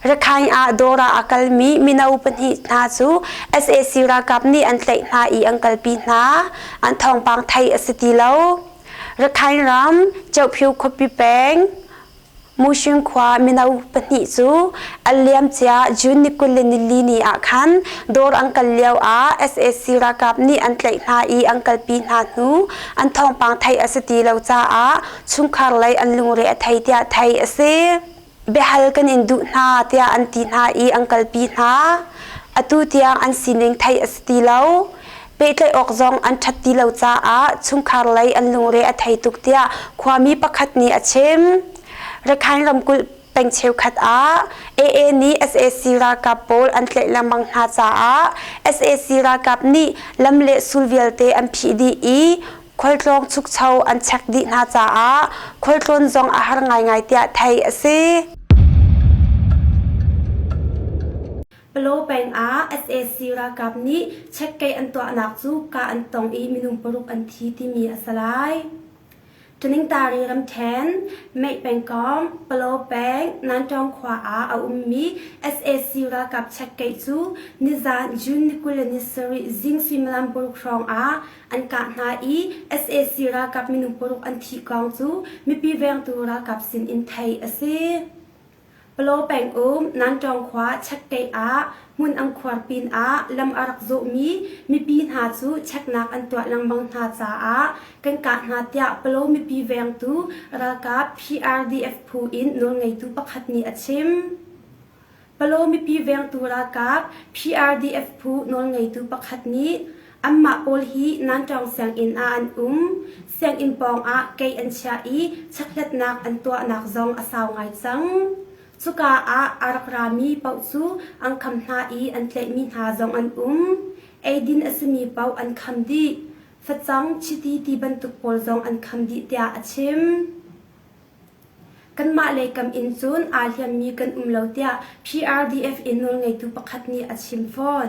Rakhine ah Dora a kalmi mino pahnih hna cu sac ralkap nih an tlaih hna i an kalpi hna. An thawngpang theih a si ti lo. Rakhine ram Cheophyu khuapi peng Mushing khua mino pahnih cu an liamcia June ni kul le nilini ah khan dawr an kal lio ah sac ralkap nih an tlaih hna i an kalpi hna hnu an thawngpang theih a si ti lo caah chungkhar lei an lungre a thei tiah theih a si. Biahal kan in duh hna tiah an ti hna i an kalpi hna. Atu tiang an sining theih a si ti lo. Pehtlaih awk zong an ṭhat ti lo caah chungkhar lei an lungre a thei tuk tiah khuami pakhat nih a chim. Rakhine ramkulh peng cheukhat ah AA nih sac ralkap pawl an tlaih lengmang hna caah sac ralkap nih lam le sul vialte an phih dih i khualtlawng chukcho an chek dih hna caah khualtlawn zong a har ngaingai tiah theih a si. Palaw peng ah sac ralkap nih checkgate an tuahnak cu kah an tong i minung paruk an thi timi a si lai. Tuningtari ramṭhen Mei pengkawm Palaw peng Nantawng khua ah a ummi sac ralkap checkgate cu nizan June ni kul le ni sarih zing suimilam paruk hrawng ah an kah hna i sac ralkap minung paruk an thih kong cu mipi vengtu ralkap sin in theih a si. Palaw peng um Nantawng khua Chekkeih ah hmun ang khuar pinah lam a rak zawhmi mipi hna cu cheknak an tuah lengmang hna caah kan kah hna tiah Palaw mipi vengtu ralkap PRDF phu in nawlngeitu pakhat nih a chim. Palaw mipi vengtu ralkap PRDF phu nawlngeitu pakhat nih Anmah pawl hi Nanṭawng sianginn ah an um. Sianginn pawngah kei an chiah i checkhlatnak an tuahnak zong a sau ngai cang. Cuka ah aa rak rami paoh cu an kham hna i an tlaihmi hna zong an um. Eidin a simi paoh an kham dih. Facang, chiti ti bantuk pawl zong an kham dih tiah a chim. Kanmah lei kam in cun aa hliammi kan um lo tiah PRDF in nawlngeitu pakhat nih a chim fawn.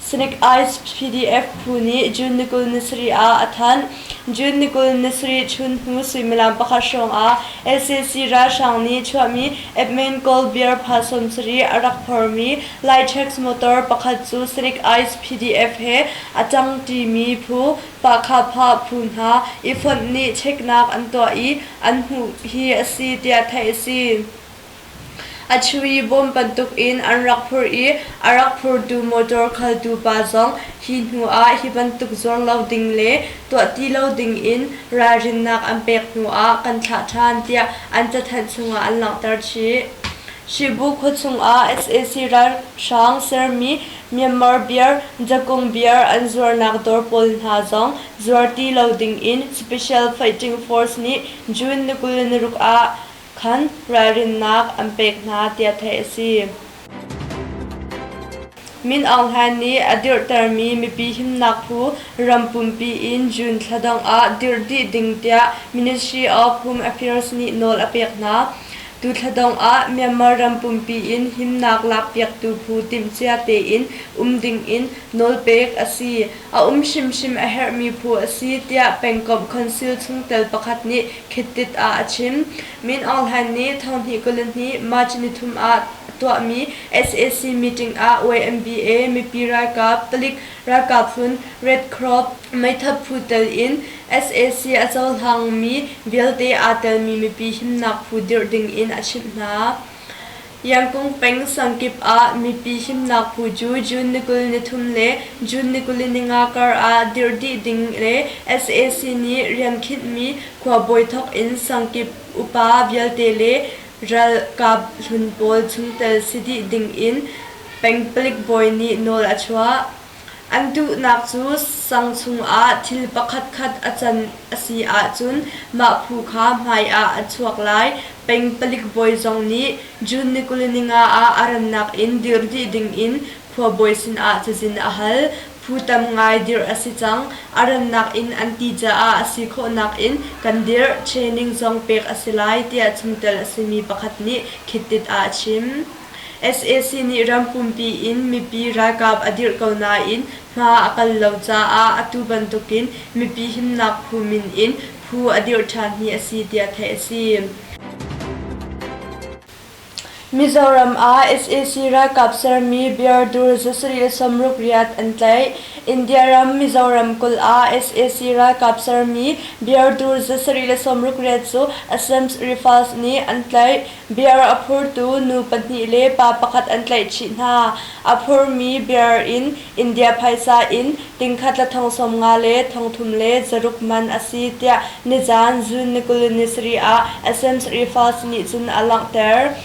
Snake Eyes PDF phu nih June ni kul ni sarih ah a thanh. June ni kul ni sarih chunhnu suimilam pakhat hrawngah SAC ralhrang nih chuahmi Edmain Coal beer pha sawmsarih a rak phormi Litex motor pakhat cu Snake Eyes PDF he a cang timi phu Pahkhapha phu hna i fonh nih cheknak an tuah i an hmuh hi a si tiah theih a si. A chuih i bawm bantuk in an rak phur i a rak phurtu motor khaltu pa zong hi hnu ah hi bantuk zuar lo ding le tuah ti lo ding in ralrinnak an pek hnu ah kan thlah ṭhan tiah an cathanh chungah an langhter chih. Shibu khua chungah sac ralhrang sermi Myanmar beer, Jakung beer an zuarnak dawr pawl hna zong zuar ti lo ding in Special Fighting Force nih June ni kul ni ruk ah khan ralrinnak an pek hna tiah theih a si. Min Aung Hlain nih a dirhtermi mipi himnak phu ram pumpi in June thla dang ah dirh dih ding tiah Ministry of Home Affairs nih nawl a pek hna. Tu thla dang ah Myanmar ram pumpi in himnak lakpiaktu phu timhcia tein um ding in nawlpek a si. A um hrimhrim a herhmi phu a si tiah pengkomh khonsil chungtel pakhat nih khittit ah a chim. Min Aung Hlain nih thonhnih kulihnih March ni thum ah tuahmi sac meeting ah YMBA mipi ralkap, palik ralkap hlun Red Cross meithal phu tel in sac a cohlangmi vialte aa telmi mipi himnak phu dirh ding in a chimh hna. Yangkung peng sang kip ah mipi himnak phu cu June ni kul ni thum le June ni kuli ninga kar ah dirh dih ding le sac nih rian khinhmi khuabawi thawk in sang kip upa vialte le ralkap hlun pawl chungtel si dih ding in peng palik bawi nih nawl a chuah. An duhnak cu sang chungah thil pakhatkhat a can a si ahcun mah phu kha hmaiah a chuak lai. Peng palik bawi zong nih June ni kuli ninga ah a rannak in dirh dih dingin khuabawi sinah cazin a hal. Phu tam ngai dirh a si cang. A rannak in an ti caah a si khawhnak in kan dirh, training zong pek a si lai tiah chungtel a simi pakhat nih khittit ah a chim. Sac nih ram pumpi in mipi ralkap a dirh ko nain hma a kal lo caah atu bantukin mipi himnak phu min in phu a dirh ṭhan hi a si tiah theih a si. Mizoram ah sac ralkap sermi biardur za sarih le sawmruk riat an tlaih. India ram Mizoram kulh ah sac ralkap sermi biardur za sarih le sawmruk riat cu Assemblies Rifles nih an tlaih. Biar a phurtu nu pahnih le pa pakhat an tlaihchih hna. A phurmi bear in India phaisa in tingkhat la thong sawm nga le thong thum le zaruk man a si tiah nizaan June ni kul ni sarih ah Athens Rifas nih cun a langhter.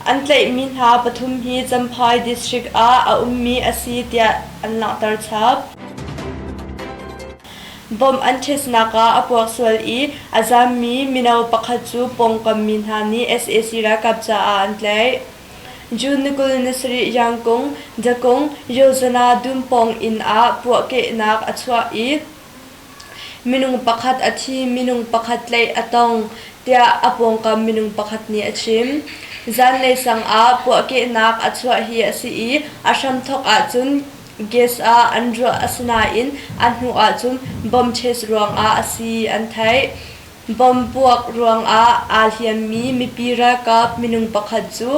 An tlaihmi hna pathum hi Champhai district ah a ummi a si tiah an langhter chap. Bomb an ṭhitnak ah a puak sual i a zammi mino pakhat cu pawngkam mi hna nih sac ralkap caah an tlaih. June ni kul ni sarih Yang Kung, Dakung, Yozana dumpawng inn ah puahkehnak a chuah i minung pakhat a thi, minung pakhat tlaih a tong, tiah a pawngkam minung pakhat nih a chim. Zanlei sang ah puahkehnak a chuah hi a si i a hramthawk ahcun Gas ah an ruah asinain a hnu ahcun bomb chest ruangah a si an theih. Bomb puak ruangah aa hliammi mipi ralkap minung pakhat cu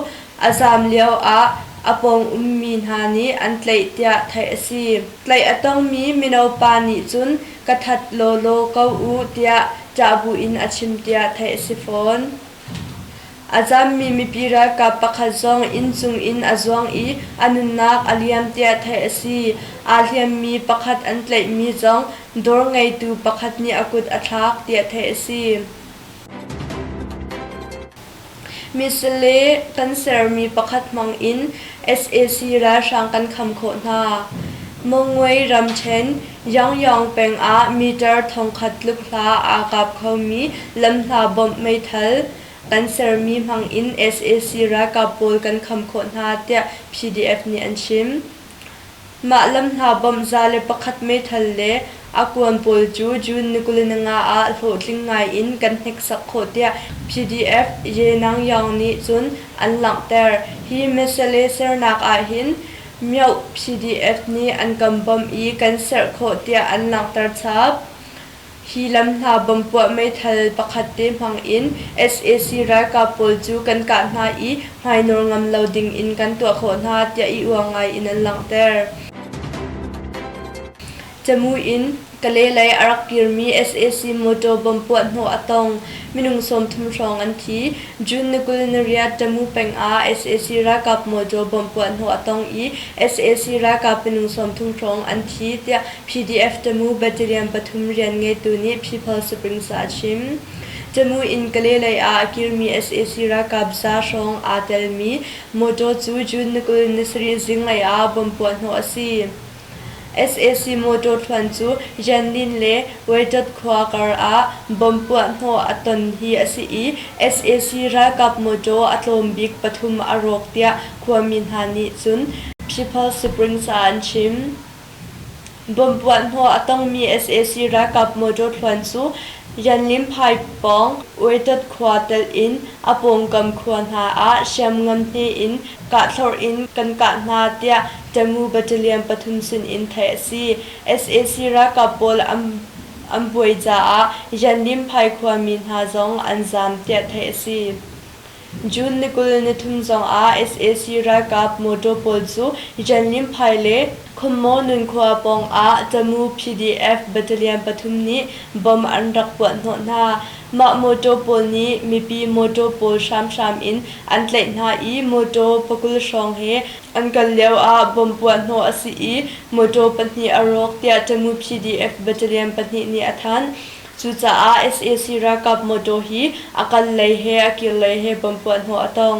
a zaam lio ah a pawng ummi hna nih an tlaih tiah theih a si. Tlaih a tongmi mino pa nih cun ka that lawlaw ko u tiah ṭah buin a chim tiah theih a si fawn. A zammi mipi ralkap pakhat zong inn cungin a zuang i a nunnak a liam tiah theih a si. Aa hliammi pakhat an tlaihmi zong dawr ngeitu pakhat nih a kut a thlak tiah theih a si. Misle kan sermi pakhat hmangin sac ralhrang kan kham khawh hna. Mongwe ramṭhen Yangyang peng ah meter thongkhat tluk hla aa kap khomi lam hla bawmh meithal Kan sermi hmangin sac ralkap pawl kan kham khawh hna tiah PDF nih an chim. Mah lam hna bawmh za le pakhat meithal le a kuan pawl cu June nikulinaga ah hlawhtling ngaiin kan hneksak khawh tiah PDF Ye Nang Yaung nih cun an langhter. Hi mesale sernak ahhin Myoh PDF nih an kan bawmh i kan serh khawh tiah an langhter chap. Hi lam hna bawmpuah meithal pakhat te hmang in sac ralkap pawl cu kan kah hna i hmainawl ngam lo ding in kan tuah khawh hna tiah i uang ngai in an langhter. Camu in Kale lei a rak kirmi sac mawṭaw bawmpuah hnawh a tong. Minung sawmthum hrawng an thi. June ni kul nariat Tamu peng ah sac ralkap motor bomb puahhnawh a tong i sac ralkap minung sawmthum hrawng an thi, tiah PDF Tamu battalion pathum rian ngeitu nih People Springs ah a chim. Tamu in Kalay lei ah a kirmi sac ralkap za hrawng aa telmi motor cu June ni kul ni sarih zinglei ah bomb puahhnawh a si. Sac motor thluan cu Yanlin le Waidot khua kar ah bomb puahhnawh a ton hi a si i sac ralkap motor a tlawm bik pathum a rawk tiah khuami hna nih cun People Springs ah an chim. Bomb puahhnawh a tongmi sac ralkap motor thluan cu Yanlin pipe pawng Waidot khua telh in a pawngkam khua hna ah hriamngan hne in kahthlor in kan kah hna tiah Tamu battalion pathum sinin theih a si. sac ralkap pawl an an buai caah Yandim Phai khuami hna zong an zaam tiah theih a si. June ni kul ni thum zongah sac ralkap mawtaw pawl cu Yandim Phai le Khommaw nunkhua pawngah Tamu PDF battalion pathum nih bomb an rak puah hnawh hna. Mah mawṭaw pawl nih mipi mawṭaw pawl hramhram in an tlaih hna i mawṭaw pakul hrawng he an kal lioah bomb puah hnawh a si i mawṭaw pahnih a rawk tiah Tamu PDF battalion pahnih nih a thanh. Cucaah sac ralkap mawṭaw hi a kal lei he a kir lei he bomb puah hnawh a tong.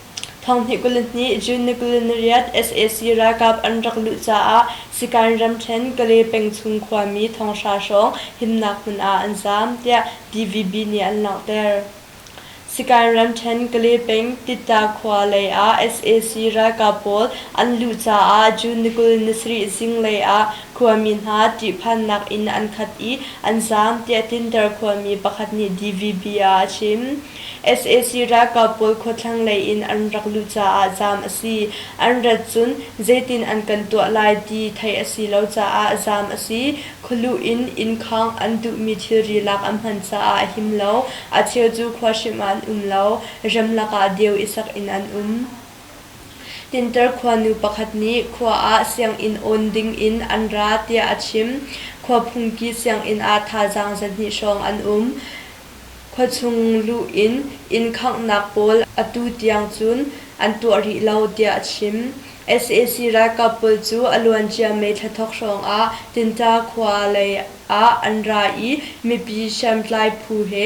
Thong hnih kul in hnih June ni kul in riat sac ralkap an rak luh caah Sikan ramṭhen Kale peng chung khuami thonghra hrawng himnak hmun ah an zaam, tiah TVB nih an langhter. Sikan ramṭhen Kale peng Titta khua lei ah sac ralkap pawl an luh caah June ni kul ni sarih zinglei ah khuami hna ṭihphannak inn an khat i an zaam, tiah tlinter khuami pakhat nih TVB ah a chim. sac ralkap pawl khuathlang lei in an rak luh caah zaam a si. An rat cun zeitin an kan tuah lai ti theih a si lo caah zaam a si. Khualuh in innkhawng an duhmi thilri lak an hman caah a him lo. A cheu cu khua hrim ah an um lo. Rem lakah deu i sak in an um. Tinter khuanu pakhat nih khua ah sianginn awn ding in an ra tiah a chim. Khua phungki sianginn ah thazaang zahnih hrawng an um. Khuachung luh in inn khanghnak pawl atu tiang cun an tuah rih lo tiah a chim. sac ralkap pawl cu a luancia May thla thok hrawng ah Tinta khua lei ah an ra i mipi hriamtlai phu he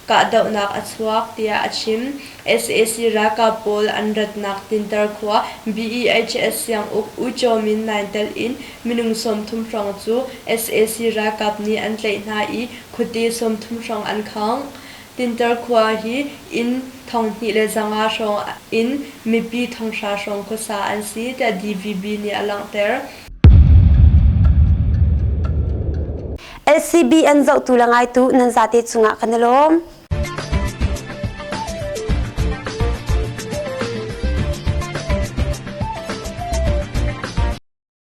kahdohnak a chuak tiah a chim. sac ralkap pawl an ratnak Tintar khua BEHS sianguk U Chaw Min nai telh in minung sawmthum hrawng cu sac ralkap nih an tlaih hna i khuate sawmthum hrawng an khawng. Tinter khua hi inn thong hnih le zanga hrawng in mipi thonghra hrawng khuasa an si tiah DVB nih a langhter. LCBN zohtu le ngaitu nan zate cungah kan i lawm.